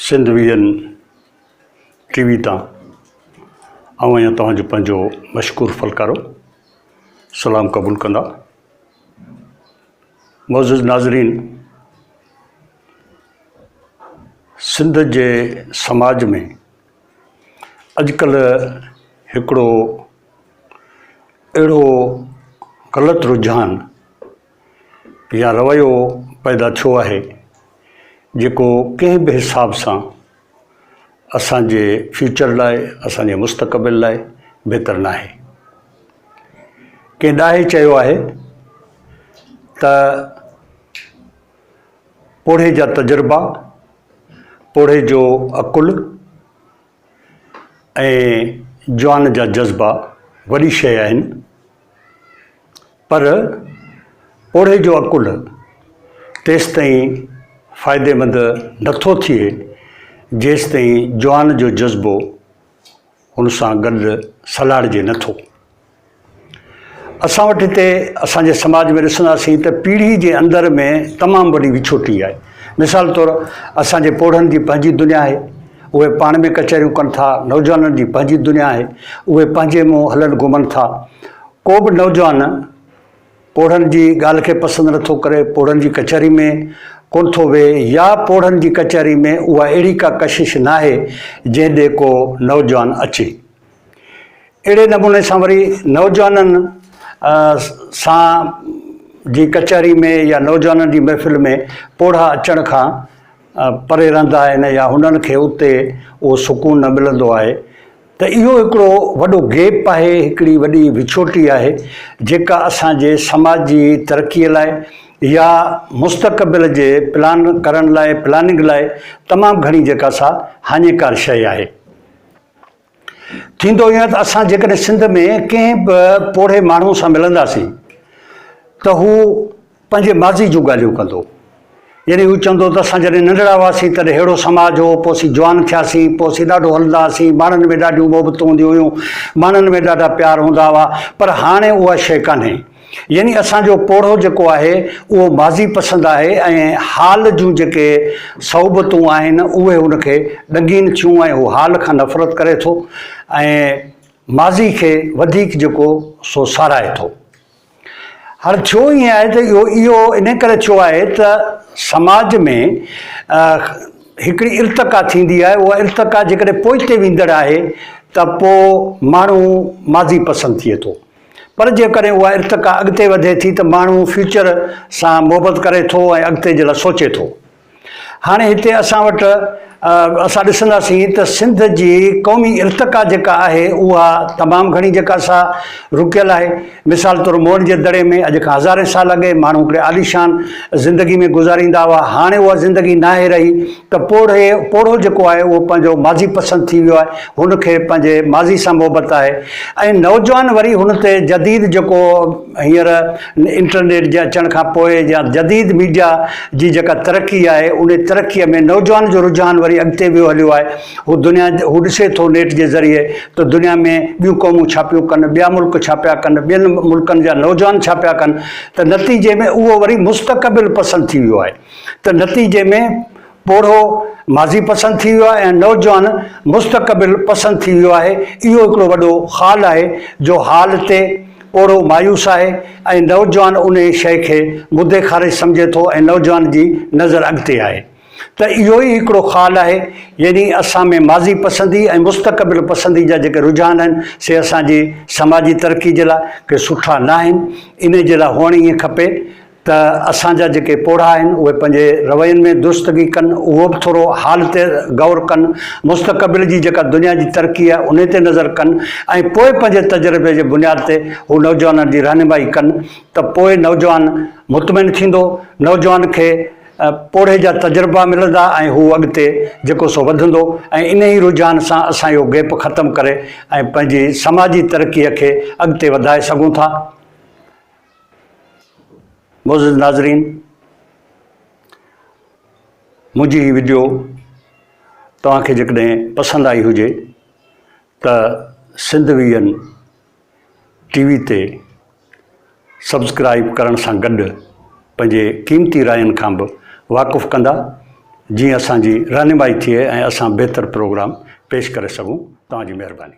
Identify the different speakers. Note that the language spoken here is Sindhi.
Speaker 1: Sindh V N T V تان آئون آهيان توهان جو پنهنجو مشڪور فلڪارو سلام قبول ڪندا معزز ناظرين سنڌ جي سماج ۾ اڄڪلهه هڪڙو اهڙو غلط رجحان يا رويو پيدا ٿيو آهي جيڪو ڪنهن به حساب سان اسان جي فيوچر لاء اسان جي مستقبل لاء بهتر ناهي ڪنهن ڏاهي چيو آهي ته پوڙهي جا تجربا پوڙهي جو عقل ۽ جوان جا جذبا وڏي شيء آهن، پر پوڙهي جو عقل تيستائين فائديمند نه ٿو ٿئي، جيستائين جوان جو جذبو ان سان گڏ سلهاڙجي نه ٿو. اسان وٽ هتي اسان جي سماج ۾ ڏسنداسين ته پيڙهي جي اندر ۾ تمام وڏي وڇوٽي آهي. مثال طور اسان جي پوڙهن جي پنهنجي دنيا آهي، اهي پاڻ ۾ ڪچهريون ڪن ٿا، نوجوانن جي پنهنجي دنيا آهي، اهي پنهنجي منهن هلن گهمن ٿا، ڪو به نوجوان پوڙهن جي ڳالهه کي پسند نه ٿو ڪري، پوڙهن جي ڪچهري ۾ ڪونه ٿو ويهي يا پوڙهن جي ڪچهري ۾ اها اهڙي ڪا ڪشش ناهي جنهن ڏي ڪو نوجوان اچي. اهڙي نموني سان وري نوجوانن سان جي ڪچهري ۾ يا نوجوانن جي محفل ۾ پوڙها اچڻ کان پري رهندا آهن يا هنن کي اتي اهو سڪون نه ملندو آهي ته اهو هڪڙو وڏو گيپ آهي هڪڙي وڏي وڇوٽي آهي جيڪا اسان جي سماج جي ترقي لاء يا مستقبل جي پلان ڪرڻ لاء پلاننگ لاء تمام گهڻي جيڪا سا هاڃيڪار شيء آهي. ٿيندو ائين ته اسان جيڪڏهن سنڌ ۾ ڪنهن به پوڙهي ماڻهو سان ملنداسين ته هو پنهنجي ماضي جون ڳالهيون ڪندو. يعني هو چوندو ته اسان جڏهن ننڍڙا هئاسين تڏهن ههڙو سماج هو، پوء اسين جوان ٿياسين، پوء اسين ڏاڍو هلندا هئاسين، ماڻهن ۾ ڏاڍيون محبتون هونديون هيون، ماڻهن ۾ ڏاڍا پيار هوندا هئا، پر هاڻي اها شيء ڪانهي. يعني اسان جو پوڙهو جيڪو آهي اهو ماضي پسند آهي ۽ حال جون جيڪي صعوبتون آهن اهي هن کي ڏنگين ٿيون ۽ هو حال کان نفرت ڪري ٿو ۽ ماضي کي وڌيڪ جيڪو سو ساراهي ٿو. هاڻي ٿيو ائين آهي ته اهو اهو انهي ڪري ٿيو آهي ته سماج ۾ هڪڙي ارتقا ٿيندي آهي اها ارتقا جيڪڏهن پوئتي ويندڙ آهي ته پوء ماڻهو ماضي پسند ٿئي ٿو. پر جيڪڏهن اها ارتقا اڳتي وڌي ٿي ته ماڻهو فيوچر سان محبت ڪري ٿو ۽ اڳتي جي لاء سوچي ٿو. هاڻي هتي اسان وٽ اسان ڏسنداسين ته سنڌ جي قومي ارتقا جيڪا آهي اها تمام گهڻي جيڪا سا رڪيل آهي. مثال طور موئن جي دڙي ۾ اڄ کان هزارين سال اڳي ماڻهو هڪڙي عاليشان زندگي ۾ گذاريندا هئا هاڻي اها زندگي ناهي رهي ته پوڙهي پوڙهو جيڪو آهي اهو پنهنجو ماضي پسند ٿي ويو آهي، هن کي پنهنجي ماضي سان محبت آهي ۽ نوجوان وري هن تي جديد جيڪو هينئر انٽرنيٽ جي اچڻ کان پوء يا جديد ميڊيا جي جيڪا ترقي آهي ان ترقي ۾ نوجوان جو رجحان وري اڳتي ويو هليو آهي هو دنيا هو ڏسي ٿو نيٽ جي ذريعي ته دنيا ۾ ٻيون قومون ڇا پيون ڪن ٻيا ملڪ ڇا پيا ڪن ٻين ملڪن جا نوجوان ڇا پيا ڪن ته نتيجي ۾ اهو وري مستقبل پسند ٿي ويو آهي. ته نتيجي ۾ پوڙهو ماضي پسند ٿي ويو آهي ۽ نوجوان مستقبل پسند ٿي ويو آهي. اهو هڪڙو وڏو خال آهي جو حال تي پوڙهو مايوس آهي ۽ نوجوان انهي شيء کي مدي خارج سمجهي ٿو ۽ نوجوان جي نظر اڳتي آهي ته اهو ئي هڪڙو خال آهي يعني اسان ۾ ماضي پسندي ۽ مستقبل پسندي جا جيڪي رجحان آهن سي اسان جي سماجي ترقي جي لاء ڪي سٺا ناهن انهي جي لاء هئڻ ائين کپي ته اسان جا جيڪي پوڙها آهن اهي پنهنجي روين ۾ درستگي ڪن، اهو به ٿورو حال تي غور ڪن، مستقبل جي جيڪا دنيا جي ترقي آهي انهي تي نظر ڪن ۽ پوء پنهنجي تجربي جي بنياد تي هو نوجوانن جي رهنمائي ڪن ته پوء نوجوان مطمئن ٿيندو، نوجوان کي پوڙهي جا تجربا ملندا ۽ هو اڳتي جيڪو سو وڌندو ۽ انهي رجحان سان اسان اهو گيپ ختم ڪري ۽ پنهنجي سماجي ترقي کي اڳتي وڌائي سگهون ٿا. معزز ناظرين منهنجي هي ويڊيو توهان کي جيڪڏهن پسند آئي هجي ته سنڌ ويئن ٽي وي تي سبسڪرائب ڪرڻ سان گڏ پنهنجي قيمتي راين کان به واقف ڪندا جيئن اسان جي رهنمائي ٿئي ۽ اسان بهتر پروگرام پيش ڪري سگهون توهان جي مهرباني